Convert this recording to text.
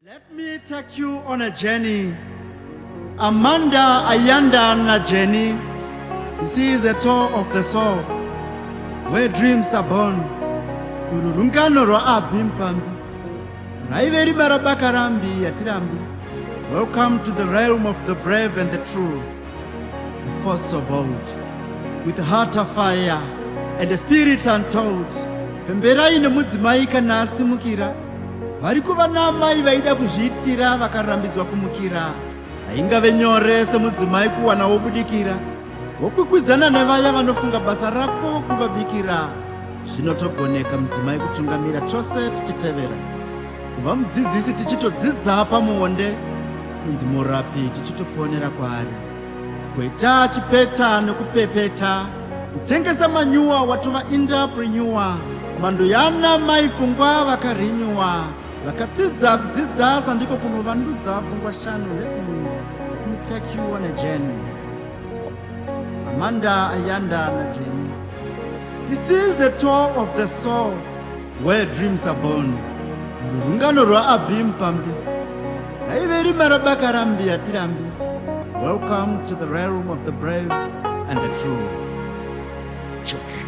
Let me take you on a journey. Amanda Ayanda na Jenny. This is a tour of the soul where dreams are born. Ururungano rwaabhi mpambi raive rima rabaka rambi yatirambi. Welcome to the realm of the brave and the true. The force so bold with a heart of fire and a spirit untold. Pemberai nemudzimai kana asimukira. Variko vana amai vaida kuzviitira vakarambidzwa kumukira. Haingave nyore semudzimai kuwana wobudikira wokwikwidzana nevaya vanofunga basa rako kuvabikira. Zvinotogoneka mudzimai kutungamira tose tichitevera. Kuva mudzidzisi tichitodzidza pamuonde, kunzi murapi tichitoponera kwaari. Kweta chipeta nekupepeta kutengesa manyuwa watova indaprenyuwa mhando yana mai fungwa vakarinyuwa vakatsidza kudzidza sandiko kunovandudza fungwa shanu nekutekiwa nejeni amanda ayanda najeni this is the tour of the soul Where dreams are born. Rungano rwaAbim Pambi raive rima rabaka rambi hatirambi. Welcome to the realm of the brave and the true. Chipke.